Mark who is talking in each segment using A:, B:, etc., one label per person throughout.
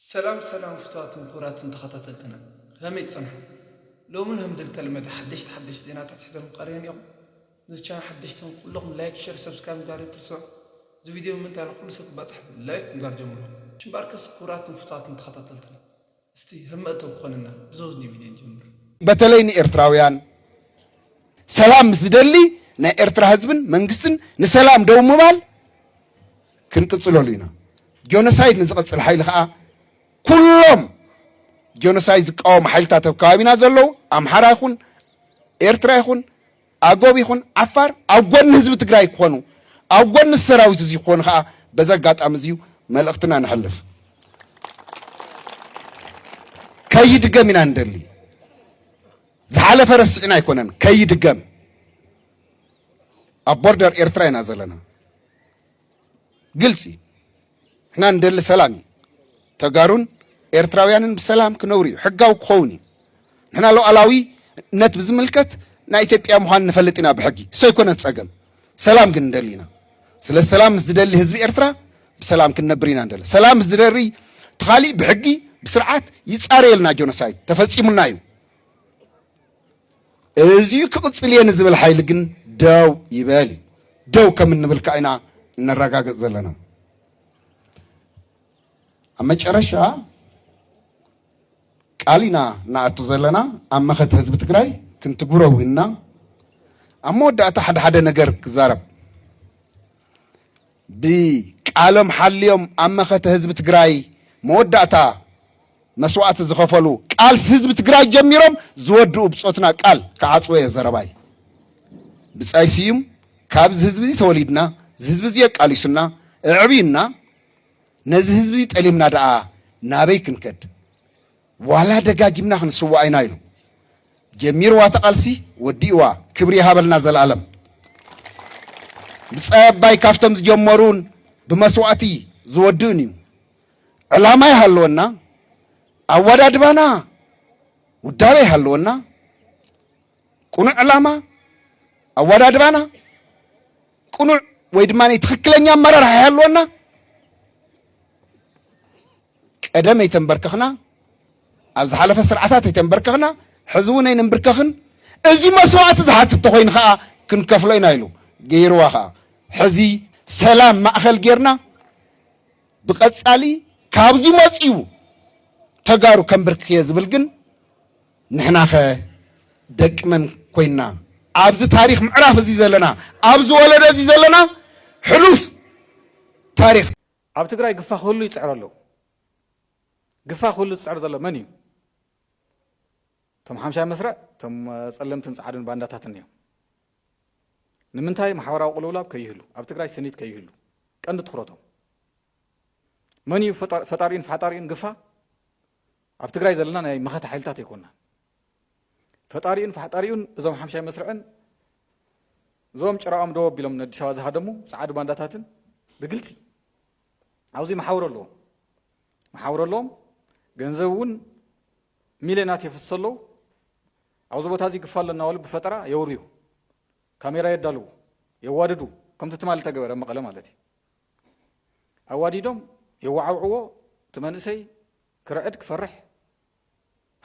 A: ሰላም ሰላም ፍትዋትን ክብራትን ተኸታተልትና ከመይ ትጸንሑ ሎሚ ን ከምዝልተለመደ ሓደሽቲ ሓደሽቲ ዜናታት ሒዘልኩም ቀሪበን ኢኹም ነዚ ቻናል ሓደሽቲ ትኹን ኩሉኹም ላይክ ሸር ሰብስክራይብ ምግባር ኣይትርስዑ እዚ ቪድዮ ንምንታይ ን ኩሉ ሰብ ክባጻሕ ብ ላይክ ምግባር ጀምሩ ሽምበኣርከስ ክብራትን ፍትዋትን ተኸታተልትና እስቲ ከም መእተዊ ክኾነና ብዘውዝኒ ቪድዮ ንጀምር። በተለይ ንኤርትራውያን
B: ሰላም ምስ ዝደሊ ናይ ኤርትራ ህዝብን መንግስትን ንሰላም ደው ምባል ክንቅፅለሉ ኢና። ጆኖሳይድ ንዝቐፅል ሓይሊ ከዓ ኩሎም ጆኖሳይድ ዝቃወሙ ሓይልታት ኣብ ከባቢና ዘለዉ ኣምሓራ ይኹን ኤርትራ ይኹን ኣጎብ ይኹን ዓፋር ኣብ ጎኒ ህዝቢ ትግራይ ክኾኑ ኣብ ጎኒ ሰራዊት እዚ ክኾኑ ከዓ በዚ ኣጋጣሚ እዚዩ መልእኽትና ንሕልፍ ከይድገም ኢና ንደሊ ዝሓለፈ ረስዕና ኣይኮነን ከይድገም ኣብ ቦርደር ኤርትራ ኢና ዘለና ግልፂ እዩ ንሕና ንደሊ ሰላም እዩ ተጋሩን ኤርትራውያንን ብሰላም ክነብሩ እዩ ሕጋዊ ክኸውን እዩ ንሕና ሉዓላዊነት ብዝምልከት ናይ ኢትዮጵያ ምዃን ንፈልጥ ኢና ብሕጊ እሰይ ኮነት ፀገም ሰላም ግን ንደሊ ኢና ስለ ሰላም ምስ ዝደሊ ህዝቢ ኤርትራ ብሰላም ክንነብር ኢና ንደሊ ሰላም ምስ ዝደሪ ተኻሊእ ብሕጊ ብስርዓት ይፃረየልና ጆኖሳይድ ተፈፂሙና እዩ እዚዩ ክቕፅል እየ ንዝብል ሓይሊ ግን ደው ይበል እዩ ደው ከም እንብል ከዓ ኢና እነረጋግፅ ዘለና ኣብ መጨረሻ ቃል ኢና እናኣቱ ዘለና ኣብ መኸተ ህዝቢ ትግራይ ክንትግብሮ ውንና ኣብ መወዳእታ ሓደ ሓደ ነገር ክዛረብ ብቃሎም ሓልዮም ኣብ መኸተ ህዝቢ ትግራይ መወዳእታ መስዋእቲ ዝኸፈሉ ቃልሲ ህዝቢ ትግራይ ጀሚሮም ዝወድኡ ብፆትና ቃል ክዓፅዎ እየ ዘረባይ። ብፃይ ስዩም ካብዚ ህዝቢ እዚ ተወሊድና እዚ ህዝቢ እዚ የቃሊሱና እዕብዩና ነዚ ህዝቢ እዚ ጠሊምና ደኣ ናበይ ክንከድ? ዋላ ደጋጊምና ክንስዋእ ኢና ኢሉ ጀሚርዋ እቲ ቃልሲ ወዲእዋ ክብሪ ይሃበልና ዘልኣለም። ብጻይ ኣባይ ካብቶም ዝጀመሩን ብመስዋእቲ ዝወድእን እዩ። ዕላማ ይሃለወና፣ ኣወዳድባና ውዳበ ይሃለወና፣ ቅኑዕ ዕላማ ኣወዳድባና ቅኑዕ ወይ ድማ ትክክለኛ ኣመራርሓ ይሃለወና። ቀደም ኣይተንበርከኽና፣ ኣብ ዝሓለፈ ስርዓታት ኣይተንበርከኽና፣ ሕዚ እውን ኣይንንብርከኽን፣ እዚ መስዋእቲ ዝሓትት ተኾይኑ ከዓ ክንከፍሎ ኢና ኢሉ ገይርዋ ከዓ ሕዚ ሰላም ማእኸል ጌርና ብቐፃሊ ካብዚ መፅኡ ተጋሩ ከንብርክኽየ ዝብል ግን ንሕናኸ ደቂ መን ኮይንና ኣብዚ ታሪክ ምዕራፍ እዚ ዘለና ኣብዚ ወለዶ እዚ ዘለና ሕሉፍ ታሪክ ኣብ ትግራይ
C: ግፋ ክህሉ ይፅዕሩ ኣለው። ግፋ ክህሉ ዝፅዕር ዘሎ መን እዩ? እቶም ሓምሻይ መስርዕ እቶም ፀለምትን ፃዓዱን ባንዳታትን እዮም። ንምንታይ ማሕበራዊ ቅልውላብ ከይህሉ፣ ኣብ ትግራይ ስኒት ከይህሉ ቀንዲ ትኩረቶም መን እዩ? ፈጣሪኡን ፈሓጣሪኡን ግፋ ኣብ ትግራይ ዘለና ናይ መኸተ ሓይልታት ኣይኮናን። ፈጣሪኡን ፋሕጣሪኡን እዞም ሓምሻይ መስርዕን እዞም ጭራኦም ደው ኣቢሎም ንኣዲስ ኣበባ ዝሃደሙ ጸዓዱ ባንዳታትን ብግልጺ ኣብዚ መሓውር ኣለዎም መሓውር ኣለዎም ገንዘብ እውን ሚልዮናት የፍስሱ ኣለዉ ኣብዚ ቦታ እዚ ግፋ ኣለና በሉ ብፈጠራ የውርዩ ካሜራ የዳልዉ የዋድዱ ከምቲ ትማሊ ተገበረ መቐለ ማለት እዩ ኣዋዲዶም የዋዓውዕዎ እቲ መንእሰይ ክርዕድ ክፈርሕ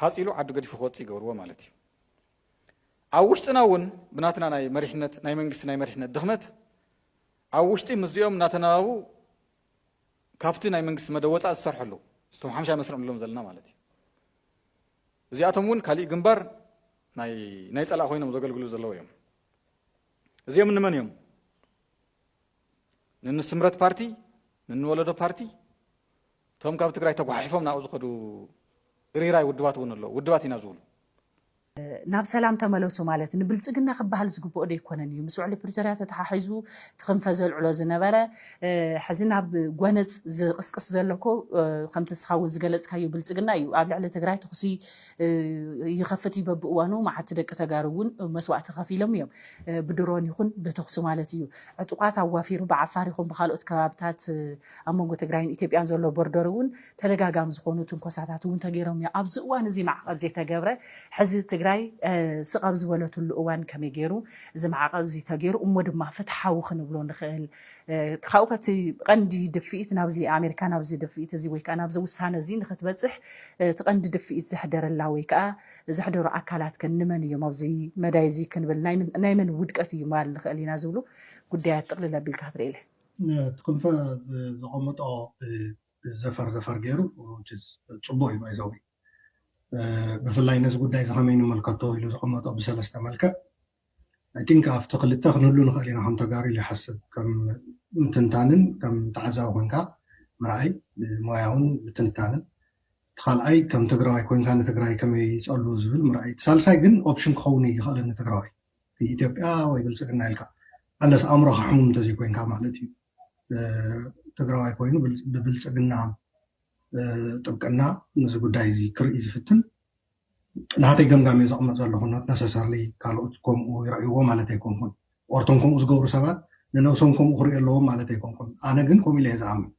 C: ሃጽ ኢሉ ዓዱ ገዲፉ ክወጽእ ይገብርዎ ማለት እዩ። ኣብ ውሽጥና እውን ብናትና ናይ መሪሕነት ናይ መንግስቲ ናይ መሪሕነት ድኽመት ኣብ ውሽጢ ምስዚኦም እናተናባቡ ካብቲ ናይ መንግስቲ መደብ ወፃእ ዝሰርሑ ኣለዉ እቶም ሓምሻይ መስርዕ ንብሎም ዘለና ማለት እዩ እዚኣቶም እውን ካሊእ ግንባር ናይ ናይ ፀላእ ኮይኖም ዘገልግሉ ዘለዉ እዮም እዚኦም ንመን እዮም ንንስምረት ፓርቲ ንንወለዶ ፓርቲ እቶም ካብ ትግራይ ተጓሓሒፎም ናብኡ ዝኸዱ እርይራይ ውድባት እውን ኣለዉ ውድባት ኢና ዝብሉ።
D: ናብ ሰላም ተመለሱ ማለት ንብልፅግና ክበሃል ዝግበኦ ዶ ኣይኮነን እዩ? ምስ ውዕሊ ፕሪቶርያ ተተሓሒዙ እቲ ክንፈ ዘልዕሎ ዝነበረ ሕዚ ናብ ጎነፅ ዝቕስቅስ ዘሎ እኮ ከምቲ ንስኻ እውን ዝገለፅካዮ ብልፅግና እዩ። ኣብ ልዕሊ ትግራይ ተኹሲ ይኸፍት እዩ በብእዋኑ፣ መዓት ደቂ ተጋሩ እውን መስዋእቲ ከፊሎም እዮም ብድሮን ይኹን ብተኹሲ ማለት እዩ። ዕጡቓት ኣዋፊሩ ብዓፋር ይኹን ብኻልኦት ከባብታት ኣብ መንጎ ትግራይን ኢትዮጵያን ዘሎ ቦርደር እውን ተደጋጋሚ ዝኾኑ ትንኮሳታት እውን ተገይሮም እዮም። ኣብዚ እዋን እዚ ማዕቐብ ዘይተገብረ ሕዚ ትግራይ ስቕ ኣብ ዝበለትሉ እዋን ከመይ ገይሩ እዚ ማዕቐብ እዚ ተገይሩ እሞ ድማ ፍትሓዊ ክንብሎ ንኽእል? ካብኡ ከ እቲ ቀንዲ ድፍኢት ናብዚ ኣሜሪካ ናብዚ ድፍኢት እዚ ወይ ከዓ ናብዚ ውሳነ እዚ ንኽትበፅሕ እቲ ቀንዲ ድፍኢት ዘሕደረላ ወይ ከዓ ዘሕደሩ ኣካላት ከ ንመን እዮም ኣብዚ መዳይ እዚ ክንብል ናይ መን ውድቀት እዩ ምባል ንኽእል ኢና ዝብሉ ጉዳያት ጥቕልል ኣቢልካ ክትርእይለ? እቲ ክንፈ
E: ዘቐመጦ ዘፈር ዘፈር ገይሩ ፅቡቕ እዩ ባይዘወይ ብፍላይ ነዚ ጉዳይ እዚ ከመይ ንመልከቶ ኢሉ ዘቐመጦ ብሰለስተ መልክዕ ኣይ ቲንክ ኣብቲ ክልተ ክንህሉ ንኽእል ኢና ከም ተጋሩ ኢለ ይሓስብ ከም ትንታንን ከም ተዓዛቢ ኮንካ ምርኣይ ብሞያውን ብትንታንን እቲ ካልኣይ ከም ትግራዋይ ኮንካ ንትግራይ ከመይ ይፀሉ ዝብል ምርኣይ እቲ ሳልሳይ ግን ኦፕሽን ክኸውን ይኽእል ንትግራዋይ ኢትዮጵያ ወይ ብልፅግና ኢልካ ኣለስ ኣእምሮካ ሕሙም እንተዘይኮይንካ ማለት እዩ ትግራዋይ ኮይኑ ብብልፅግና ጥብቅና ነዚ ጉዳይ እዚ ክርኢ ዝፍትን ናተይ ገምጋም እየ ዘቅምጥ ዘለኩ ኖት ነሰሰርሊ ካልኦት ከምኡ ይረእይዎ ማለት ኣይኮንኩን ኦር እቶም ከምኡ ዝገብሩ ሰባት ንነብሶም ከምኡ ክሪኡ ኣለዎም ማለት ኣይኮንኩን ኣነ ግን ከምኡ ኢለ እየ ዝኣምን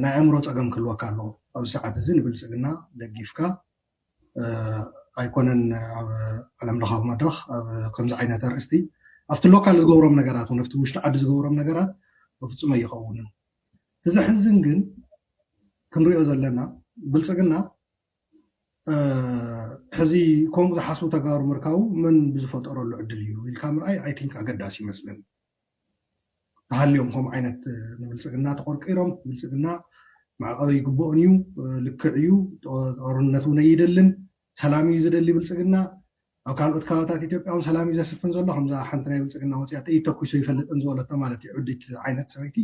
E: ናይ ኣእምሮ ፀገም ክህልወካ ኣለዎ ኣብዚ ሰዓት እዚ ንብልፅግና ደጊፍካ ኣይኮነን ኣብ ዓለም ለኻዊ መድረኽ ኣብ ከምዚ ዓይነት ኣርእስቲ ኣብቲ ሎካል ዝገብሮም ነገራት እውን ኣብቲ ውሽጢ ዓዲ ዝገብሮም ነገራት በፍፁም ኣይኸውንን እቲ ዘሕዝን ግን ክንሪኦ ዘለና ብልፅግና ሕዚ ከምኡ ዝሓስቡ ተጋሩ ምርካቡ መን ብዝፈጠረሉ ዕድል እዩ ኢልካ ምርኣይ ኣይ ቲንክ ኣገዳሲ ይመስለኒ ተሃልዮም ከምኡ ዓይነት ንብልፅግና ተቆርቂሮም ብልፅግና መዕቐበ ይግብኦን እዩ ልክዕ እዩ ጦርነት እውን ኣይደልን ሰላም እዩ ዝደሊ ብልፅግና ኣብ ካልኦት ከባብታት ኢትዮጵያ እውን ሰላም እዩ ዘስፍን ዘሎ ከምዛ ሓንቲ ናይ ብልፅግና ወፅያ ጥይት ተኩሶ ይፈልጥን ዝበለቶ ማለት እዩ ዕዲት ዓይነት ሰበይቲ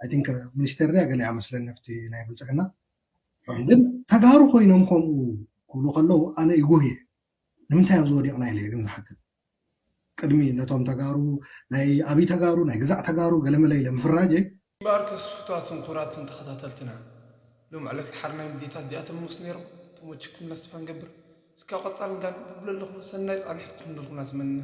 E: ኣይ ቲንክ ሚኒስቴር ድያ ገሊኣ መስለኒ ኣብቲ ናይ ብልፅግና ግን ተጋሩ ኮይኖም ከምኡ ክብሉ ከለዉ ኣነ ይጉህ እየ ንምንታይ ኣብዚ ወዲቕና ኢለ እየ ግን ዝሓትት ቅድሚ ነቶም ተጋሩ ናይ ኣብይ ተጋሩ ናይ ግዛዕ ተጋሩ ገለመለ ኢለ ምፍራጀይ ማርከስ
A: ፍቱዋትን ኩቡራትን ተኸታተልትና ሎም ዕለት ልሓርናይ ምድየታት ዚኣቶም ሞስ ነይሮም ተሞችኩም ላስት ፋ ንገብር እስካብ ቐጻሊ ንጋል ብብለለኹም ሰናይ ጻንሒት ክኹንልኩም ናትመንና።